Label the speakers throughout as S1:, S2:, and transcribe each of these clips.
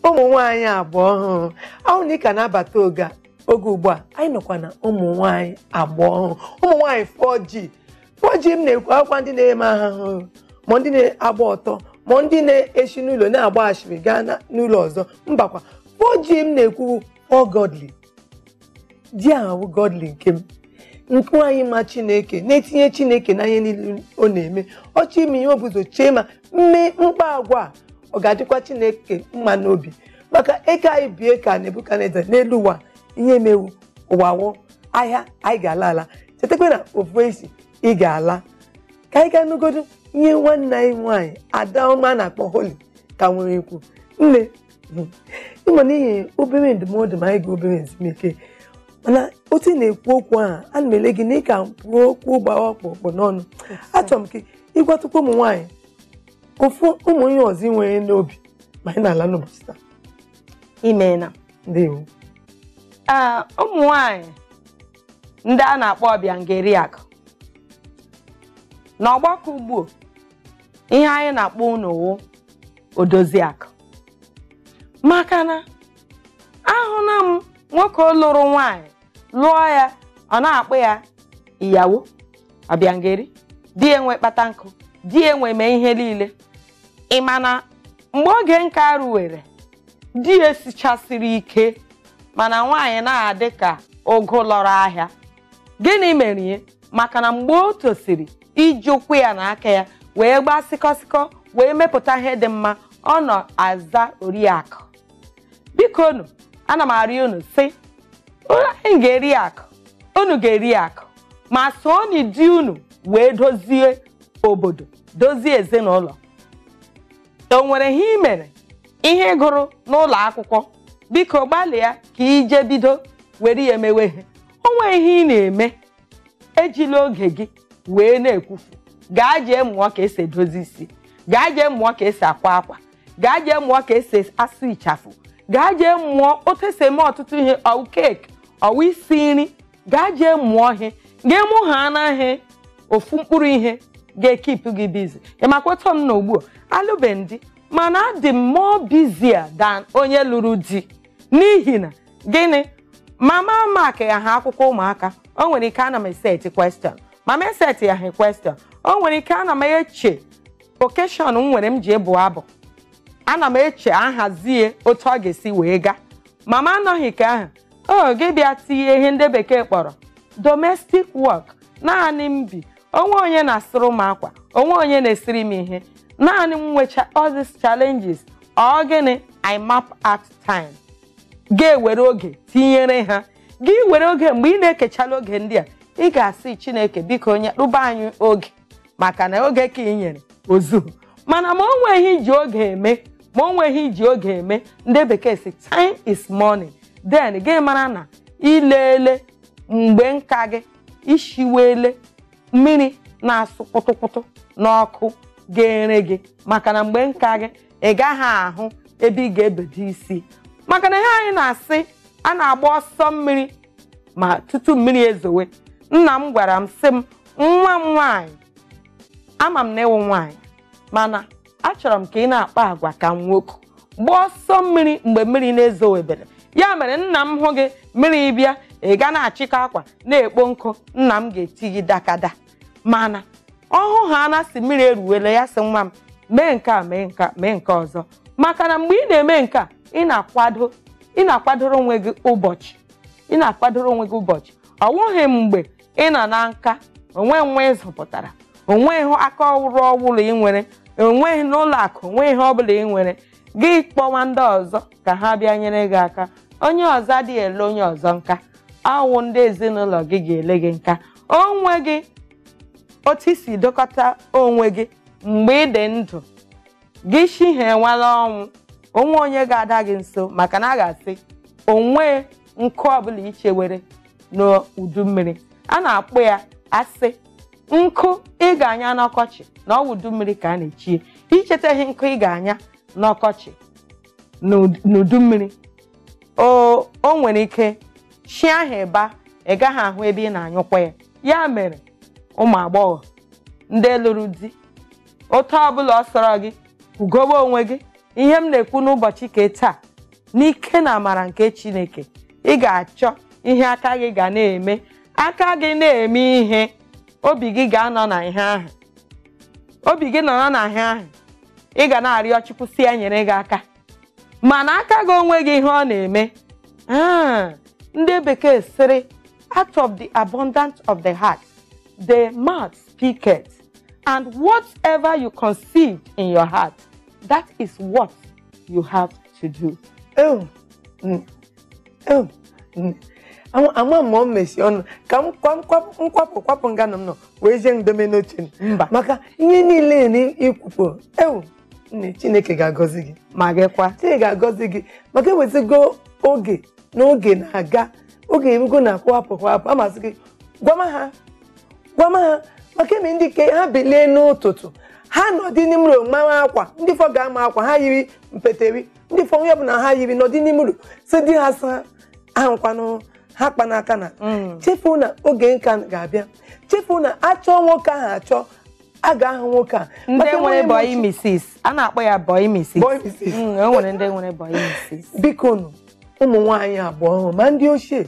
S1: ụmụ nwaanyị agba ọhụrụ ahụ na ị ka na-abata oge a oge ugbu a anyị nọkwa na ụmụ nwaanyị agba ọhụrụ ụmụ nwaanyị 4G 4G m na-ekwu awụkwa ndị na-eme aghụghọ ma ndị na-agba ọtọ ma ndị na-esi n'ụlọ na-agba ashịrị gaa na- n'ụlọ ọzọ mbakwa 4G m na-ekwu wụ godly G ahụ wụ godly nke m nke nwaanyị ma chineke na-etinye chineke n'ihe niile ọ na-eme ọ chọọ ime ihe o bu ụzọ chee ma m mee m kpaa agwa a ọ ga-adịkwa chineke mma n'obi maka eke anyị bie ka nebukadneza n'elu ụwa ihe m ma wụ ụwa wụ ahịa anyị ga-ala ala chetakwa na ofu esi ị ga-ala ka anyị gaa nụgodu ihe nwanne anyị nwaanyị adaoma a na-akpọ holi ka nwere ikwu nne ịma n'ihi obere ndụmọdụ ma anyị gaa obere ezumike mana otu ị na-ekwu okwu a ana m ele gị na ị ka kpụ okwu gbara ọkpụrụkpụ n'ọnụ achọrọ m ka ị gwatụkwa ụmụ nwaanyị ofu ụmụ ihe ọzọ i nwere n'obi ma anyị na-ala n'ụbọchị taa
S2: imeela
S1: ndewo
S2: ee ụmụ nwanyị ndị a na-akpọ ọbịangeriakụ na ọgbakọ ugbu ihe anyị na-akpọ unu wụ odoziakụ maka na ahụla m nwoke lụrụ nwaanyị lụọ ya ọ na-akpọ ya iyawo ọbịangeri di e wee kpata nkụ di e wee mee ihe niile ị ma na mgbe oge nka ruwere di e sichasịrị ike mana nwaanyị na-adị ka ụgụ lọrọ ahịa gịnị mere ya maka na mgbe o tosiri iji ụkwụ ya na aka ya wee gbaa sịkọsịkọ wee mepụta ihe dị mma ọ nọ aza oriakụ biko unu ana m arịọ unu sị unu anyị ga-eri akụ unu ga-eri akụ ma sooni di unu wee dozie obodo dozie ezinụlọ o nwere ihe ị mere ihe ị gụrụ n'ụlọ akwụkwọ biko gbalịa ka ị je bido were ya emewe ihe o nwehị ihe ị na-eme ejila oge gị wee na-ekwufu gaa jee mụọ ka e si edozi isi gaa jee mụọ ka e si akwa akwa gaa jee mụọ ka e si asụ ịchafụ gaa jee mụọ otu e si eme ọtụtụ ihe ọ wụ keeki ọ wụ isi nri gaa jee mụọ ihe gị mụ ha anaghị ofu mkpụrụ ihe ga-ekipụ gị bizi ị makwa otu m nọ ugbu a alụbe m di mana adị m more busier than onye lụrụ di n'ihi na gịnị ma m amakịyaha akwụkwọ ụmụaka o nwere ike ana m eseti question ma m esetiyaha question o nwere ike ana m eche okeshọn m nwere m je ịbụ abụ ana m eche ahazie otu ọ ga-esi wee gaa ma m anọghị ka ahụ o gị bịa tinye ihe ndị bekee kpọrọ domestic work naanị m bi onweghị onye na-asụrụ m akwa onweghị onye na-esiri m ihe naanị m nwecha all these challenges ọ gịnị i map out time ga-ewere oge tinyere ha gị were oge mgbe ị na-ekechala oge ndị a ị ga-asị chineke biko nyeruba anyị oge maka na oge ke ị nyere ozuhu mana ma o nweghị iji oge eme ma o nweghị iji oge eme ndị bekee si time is money then gị mara na ilele mgbe nka gị ishiwele mmiri na-asụ kpụtụkpụtụ n'ọkụ ga-ere gị maka na mgbe nka gị ị gaghị ahụ ebe ị ga-ebedo isi maka na ihe anyị na-asị a na-agba ọsọ mmiri ma tutu mmiri ezowe nna m gwara m sị m nwa m nwaanyị ama m na ịwụ nwaanyị mana achọrọ m ka ị na-akpa agwa ka nwoke gbaa ọsọ mmiri mgbe mmiri na-ezowebere ya mere nna m hụ gị mmiri bịa ị ga na-achịkọ akwa na-ekpo nkụ nna m ga-eti gị dakada mana ọhụ ha na si mmiri eruwela ya sị nwa m mee nke a mee nke ọzọ maka na mgbe ị na-eme nke a ị na-akwado ị na-akwadoro onwe gị ụbọchị ọ wụghị mgbe ị nọ na nka onweghị nwa ị zụpụtara onweghị aka ọrụ ọbụla ị nwere n'ụlọ akụ onweghị ihe ọbụla ị nwere gị kpọwa ndị ọzọ ka ha bịa nyere gị aka onye ọzọ adịghị ele onye ọzọ nka ọ wụ ndị ezinụlọ gị ga-ele gị nka onweghị otu i si dokọta onwe gị mgbe ị dị ndụ gị shihiewala ọnwụ onweghị onye ga-ada gị nso maka na a ga-asị onweghị nkụ ọbụla ichewere n'udu mmiri a na-akpọ ya asị nkụ ị ga-anya n'ọkọchị na ọ wụ udu mmiri ka a na-echie ichetaghị nkụ ị ga-anya n'ọkọchị n'udu mmiri o nwere ike chi ahụ ịba ị gaghị ahụ ebe ị na-anyụkwa ya ya mere ụmụ agbọghọ ndị lụrụ di otu ọbụla ọ sọrọ gị kwugobe onwe gị ihe m na-ekwu n'ụbọchị ke taa n'ike na amara nke chineke ị ga-achọ ihe aka gị ga na-eme aka gị na-eme ihe obi gị ga-anọ na ihe ahụ obi gị nọrọ na ihe ahụ ị ga na-arịọ chukwu sị ya nyere gị aka mana aka gị onweghị ihe ọ na-eme ndị bekee sịrị out of the abundance of the heart the mouth speaketh and whatever you conceive in your heart that is what you have to do
S1: mm. Ama m mesi ọnụ ka m kwapụ kwapụ nganụ m nọ wee jee ndome n'oche m. mba maka ihe
S2: niile
S1: na ikwupụ ewu nne chineke ga-agọzi gị ma gịkwa
S2: chineke ga-agọzi
S1: gị maka ewezigo oge na oge na-aga oge erugo na akwụhapụ kwahapụ amasị gị gwama ha gwama ha maka eme ndị ke ha bilie n'ụtụtụ ha nọdị n'ime ụlọ mara akwa ndị fọ ga-ama akwa ha yiri mpeteri ndị fọ onye ọbụla ha yiri nọdị n'ime ụlọ si di ha sa ahụkwanụ ha kpa n'aka chefuo na oge nka ga-abịa chefuo na achọọ nwoke ahụ achọ a ga-ahụ nwoke a ndị nwere bọyị
S2: misis a na-akpọ ya bọyị misis Bọyị misis. Mm, o nwere ndị nwere bọyị misis biko nụ
S1: ụmụ nwaanyị agba ọhụrụ ma ndị ochie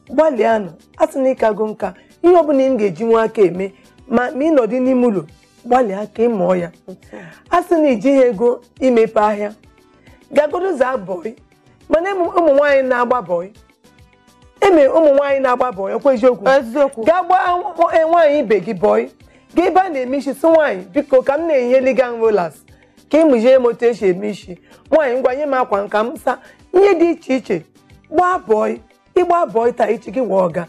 S1: gbalịanụ a sị na ị kago nka ihe ọbụla ị ga-eji nwa aka eme ma ma ị nọdị n'ime ụlọ gbalịa ka ị mụọ ya a sị na i jighị ego imepe ahịa gaa godu zaa bọị mana ụmụ ụmụ nwaanyị na-agba bọị eme ụmụ nwaanyị na-agba bọị ọkwa eziokwu eziokwu gaa gbaa nwa- eh, nwaanyị ibe gị bọị gaa ebe a na-eme isi si nwaanyị biko ka m na-enyeli gị rolas ka ị mụzie m otu esi eme isi nwaanyị ngwa nye m akwa nka m sa ihe dị iche iche gbaa bọị ị gbaa bọị taa echi gị wee ọga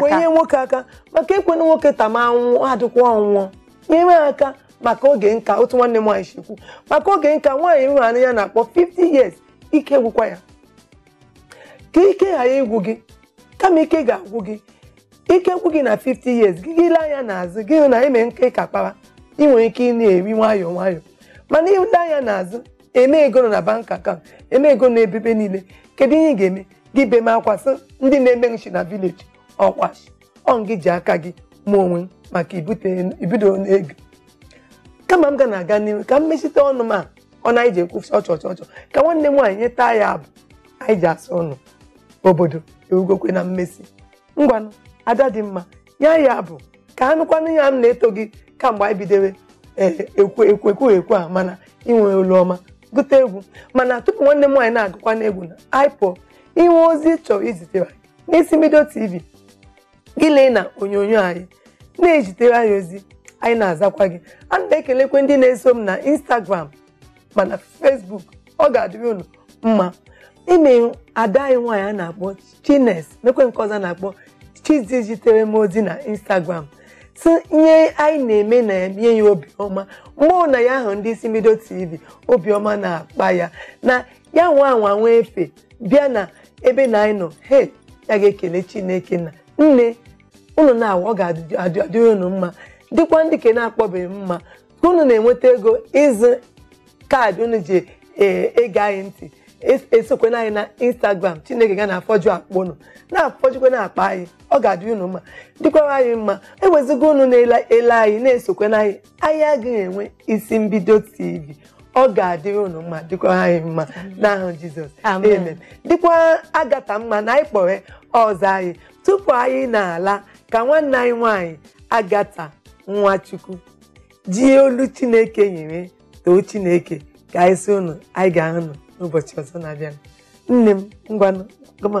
S1: were
S2: nyere nwoke
S1: aka maka ekwena nwoke ta ma anwụ adịkwa ọ nwụọ nyere aka maka oge nka otu nwanne m nwaanyị si kwu maka oge nka nwaanyị nwere anya na-akpọ 50 years ike gwụkwa ya ka ike ghara ịgwụ gị kama ike ga-agwụ gị ike gwụ gị na 50 years gị gị lee anya n'azụ gị hụ na eme nke ị ka kpara ị nwere ike ị na-eri nwayọọ nwayọọ mana i lee anya n'azụ eme ego nọ na bank account eme ego na ebebe niile kedu ihe ị ga-eme gị bema akwa sị ndị na-eme m shi na vileji ọkwa shi ọ gị ji aka gị me onwe maka ibido n'oge kama m ga na-aga n'ihu ka m mechite ọnụ m a ọnụ anyị ji ekwusi ọchọchọchọ ka nwanne m nwaanyị nyetụ anyị abụ anyị ji asị unu obodo ewugokwe na mmesi ngwanụ ada dị mma nye anyị abụ ka a nụkwanụ ya m na-eto gị kamgbe anyị bidewe ekwu okwu a mana i nwe olu ọma gụta egwu mana tupu nwanne m nwaanyị na-agụkwanụ egwu na anyị pụọ i nwe ozi ị chọrọ izitere n'isi mbido tv gị lee na onyonyo anyị na-ezitere anyị ozi anyị na-azakwa gị ana m ekelekwa ndị na-eso m na Instagram ma na Facebook ọ ga-adịrị unu mma eme ada anyị nwaanyị a na-akpọ Chine mekwe nke ọzọ a na-akpọ Chizi zitere m ozi na Instagram si ihe anyị na-eme na-enye ya obiọma mgbe ọ na ya ahụ ndị isi mbido TV obiọma na-akpa ya na ya nwa anwa nwa efe bịa na ebe na anyị nọ he ya ga-ekele chineke na nne unu na-awa ọ ga-adị unu mma dịkwa ndị ke na-akpọbeghị mma ka unu na-enweta ego ịzụ kaadị unu ji ege anyị ntị esokwana anyị na instagram chineke ga na-afọju akpa unu na-afọjukwa na akpa anyị ọ ga-adị unu mma dịkwara anyị mma ewezuga unu na-ele anyị na-esokwana anyị anyị agaghị enwe isi mbido tv ọ ga-adịrị unu mma dịkwa anyị mma n'aha jizọs Amen. amen dịkwa agata mma na anyị kpọrọ ọzọ anyị tupu anyị na-ala ka nwanne anyị nwanyị agata nwachukwu ji olu chineke nyere too chineke ka anyị si unu anyị ga-ahụ unu n'ụbọchị ọzọ na-abịa nne m ngwanụ gụma.